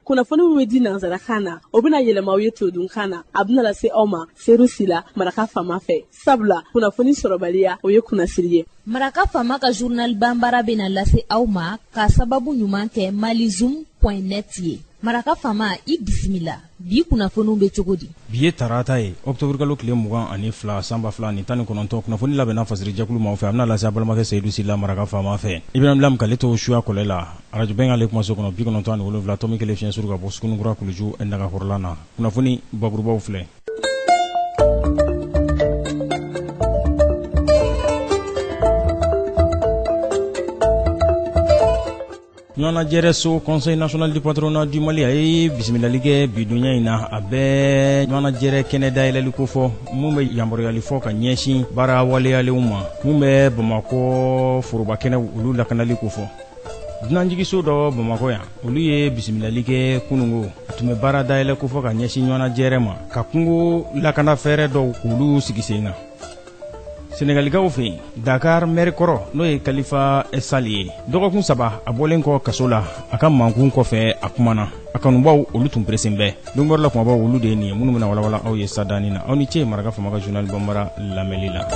kunnafoni min bɛ di nansarakan na o bɛna yɛlɛma aw ye todunkan na a bɛna lase aw ma seyidu sila maraka faama fɛ sabula kunnafoni sɔrɔbaliya o ye kunnasiri ye maraka faama ka journal banbara bɛna lase aw ma ka sababu ɲuman kɛ malizum point net ye maraka faama i bisimila bi kunnafoniw bɛ cogo di bi ye tarata ye ɔkutɔburukalo tile mugan ani fila san ba fila ni tan ni kɔnɔntɔn kunnafoni labɛnna fasirijɛkulu maaw fɛ a bɛna lase a balimakɛ seyidu sila maraka faama fɛ ibrahim lam k'ale to suya kɔlɛ la arajo bɛnkan ale kumaso kɔnɔ bi kɔnɔntɔn ani wolonwula tɔmi kelen fiɲɛ suru ka bɔ sugunikura kuluju nagakɔrɔlan na kunnafoni bakurubaw filɛ ɲɔgɔnajɛrɛso conseil national du patronat du mali a ye bisimilali kɛ bidonya in na a bɛ ɲɔgɔnajɛrɛ kɛnɛ dayɛlɛli ko fɔ min bɛ yamaruyali fɔ ka ɲɛsin baara waleyalenw ma minw bɛ bamakɔ foroba kɛnɛw olu lakanali ko fɔ dunanjigiso dɔ bamakɔ yan olu ye bisimilali kɛ kunungo a tun bɛ baara dayɛlɛ ko fɔ ka ɲɛsin ɲɔgɔnajɛrɛ ma ka kungo lakanafɛɛrɛ dɔw k'olu sigi sen kan sɛnɛgalikaw fɛ yen dakar mɛri kɔrɔ n'o ye kalifa sali ye dɔgɔkun saba a bɔlen kɔ kaso la a ka mankun kɔfɛ a kumana a kanubaw olu tun peresen bɛ dongɔrɔ la kumabaw olu de ye nin ye minnu bɛna walawala aw ye sadani na aw ni ce maraka faama ka journal banbara lamɛnli la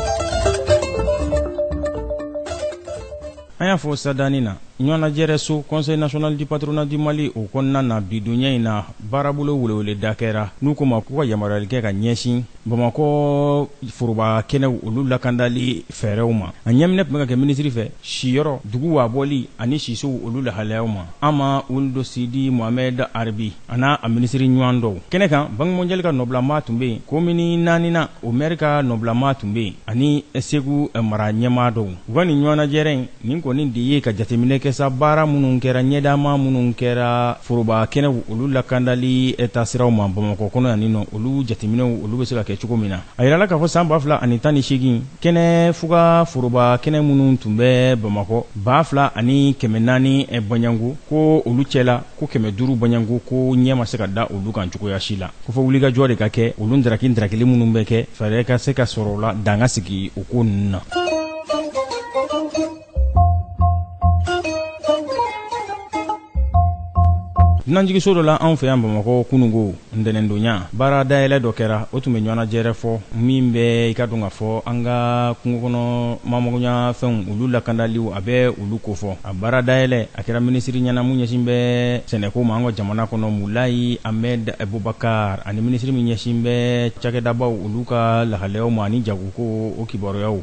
an y'a fɔ sadani na ɲɔgɔnnajɛrɛ so conseil national du patronat du mali o kɔnɔna na bidonya in na baarabolo weleweleda kɛra n'u ko ma k'u ka yamaruyali kɛ ka ɲɛsin Bamakɔ foroba kɛnɛw olu lakandali fɛɛrɛw ma a ɲɛminɛ tun bɛ ka kɛ minisiri fɛ siyɔrɔ dugu wabɔli ani sisow olu lahalayaw ma Hama Ould Sidi Mohamed Arbi a n'a a minisiriri ɲɔgɔn dɔw kɛnɛ kan banque mondiale ka nɔbilama tun bɛ yen komini naaninan o mɛri ka nɔbilama tun bɛ yen ani segu mara ɲɛmaa dɔw u ka nin ɲɔgɔnajɛrɛ in Nin kɔni de ye ka jateminɛ kɛ sa baara minnu kɛra ɲɛtaama minnu kɛra foroba kɛnɛw olu lakandali taasiraw ma Bamakɔ kɔnɔ yan nɔ, olu jateminɛw olu bɛ se ka kɛ cogo min na. A yirala k'a fɔ san 2018, kɛnɛ fuga foroba kɛnɛ minnu tun bɛ Bamakɔ, 2400 bɔɲɔgɔnko ko olu cɛla, ko 500 bɔɲɔgɔnko ko ɲɛ ma se ka da olu kan cogoya si la. Ko fo wulikajɔ de ka kɛ olu ndaraki-ndarakili minnu bɛ kɛ, fɛɛrɛ ka se ka sɔrɔ o la, dan ka sigi o ko ninnu na. dunanjiginso dɔ la anw fɛ yan bamakɔ kunungo ntɛnɛndonya baara dayɛlɛ dɔ kɛra o tun bɛ ɲɔgɔnajɛrɛ fɔ min bɛ i k'a dɔn k'a fɔ an ka kungo kɔnɔ maa magoɲa fɛnw olu lakandaliw a bɛ olu kofɔ a baara dayɛlɛ a kɛra minisiri ɲɛna min ɲɛsin bɛ sɛnɛko ma an ka jamana kɔnɔ mulayi ahmed bubakar ani minisiri min ɲɛsin bɛ cakɛdabaw olu ka lahalayaw ma ani jagokow o kibaruyaw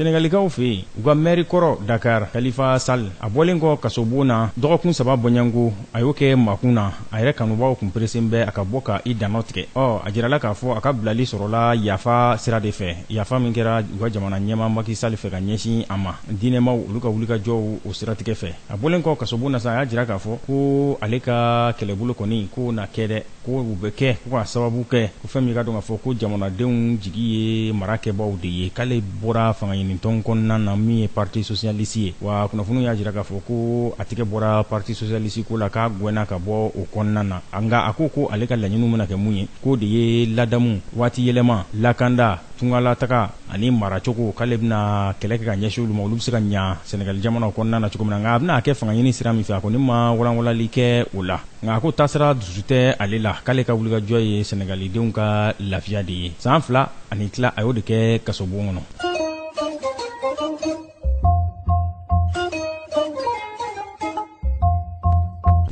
Senegalikaw fɛ yen u ka mɛri kɔrɔ Dakar Kalifa Sali a bɔlen kɔ kasobon na dɔgɔkun saba bɔɲɔgɔnko a y'o kɛ makun na a yɛrɛ kanubaw tun peresen bɛ a ka bɔ ka i dantigɛ ɔ a jirala k'a fɔ a ka bilali sɔrɔla yafa sira de fɛ yafa min kɛra u ka jamana ɲɛmaa Maki Sali fɛ ka ɲɛsin a ma diinɛmaw olu ka wulikajɔw o siratigɛ fɛ a bɔlen kɔ kasobon na sa a y'a jira k'a fɔ ko ale ka kɛlɛbolo kɔni k'o na kɛ dɛ Ko o bɛ kɛ ko ka sababu kɛ ko fɛn min ka dɔn k'a fɔ ko jamanadenw jigi ye marakɛbaaw de ye k'ale bɔra fangaɲinitɔn kɔnɔna na min ye parti socialiste ye, wa kunnafoniw y'a jira k'a fɔ ko a tɛgɛ bɔra parti socialiste ko la k'a gɛnna ka bɔ o kɔnɔna na, nka a ko ko ale ka laɲiniw bɛna kɛ min ye k'o de ye ladamu, waatiyɛlɛma, lakanda, tungalataga ani maracogo k'ale bɛna kɛlɛ kɛ ka ɲɛsin olu ma, olu bɛ se ka ɲa Senegali jamana kɔnɔna na cogo min na, nka a bɛna a kɛ fangaɲini sira min fɛ, a kɔni ma walanwalanli kɛ o la. nka a ko tasira dusu tɛ ale la k'ale ka wulikajɔ ye senegalidenw ka lafiya de ye san fila ani tila a y'o de kɛ kasobon kɔnɔ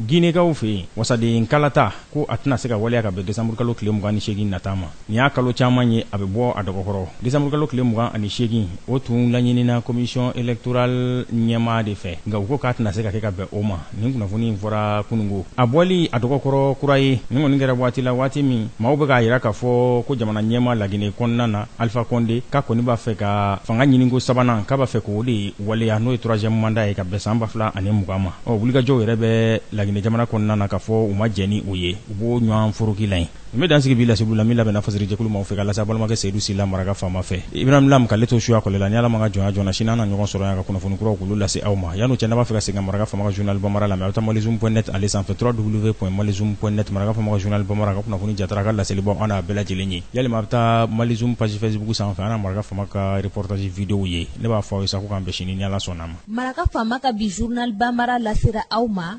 ginekaw fɛ yen wasaden kalata ko a tɛna se ka waleya ka bɛn desanburukalo tile mugan ni seegin nata ma Nin y'a kalo caman ye a bɛ bɔ a dɔgɔkɔrɔ desanburukalo tile mugan ani seegin o tun laɲinina commission électorale ɲɛmaa de fɛ nka u ko k'a tɛna se ka kɛ ka bɛn o ma nin kunnafoni in fɔra kunungo a bɔli a dɔgɔkɔrɔ kura ye nin kɔni kɛra waati la waati min maaw bɛ k'a jira k'a fɔ ko jamana ɲɛmaa lagine kɔnɔna na alifa kɔnde k'a kɔni b'a fɛ ka fanga ɲininko sabanan k'a b'a fɛ k'o de waleya n'o ye troisième mandat ye ka bɛn san 2000 ani mugan ma ɔ wulikajɔw yɛrɛ bɛ lagine jamana kɔnɔna na k'a fɔ u ma jɛn ni o ye u b'o ɲwan foroki la yen N bɛ dan sigi bi laseliw la min labɛnna fasiri jɛkulu maaw fɛ ka lase an balimakɛ Seyidu Sila maraka faama fɛ. Ibrahim Lam k'ale to suya kɔlɛ la, ni Ala ma an ka jɔnya joona, sini an na ɲɔgɔn sɔrɔ yan ka kunnafoni kuraw k'olu lase aw ma. Yan'o cɛ, n'a b'a fɛ ka segin ka maraka faama ka journal Bamara lamɛn, a bɛ taa malizoom point net ale sanfɛ www.malizoom.net maraka faama ka journal Bamara, a ka kunnafoni jatara, a ka laselibaw, an n'a bɛɛ lajɛlen ye. Walima a bɛ taa malizoom page facebook sanfɛ, an na maraka faama ka reportage videow ye. Ne b'a fɔ aw ye sa, ko k'an bɛn sini, ni Ala sɔnn'a ma. Maraka faama ka bi journal Bamara lasera aw ma.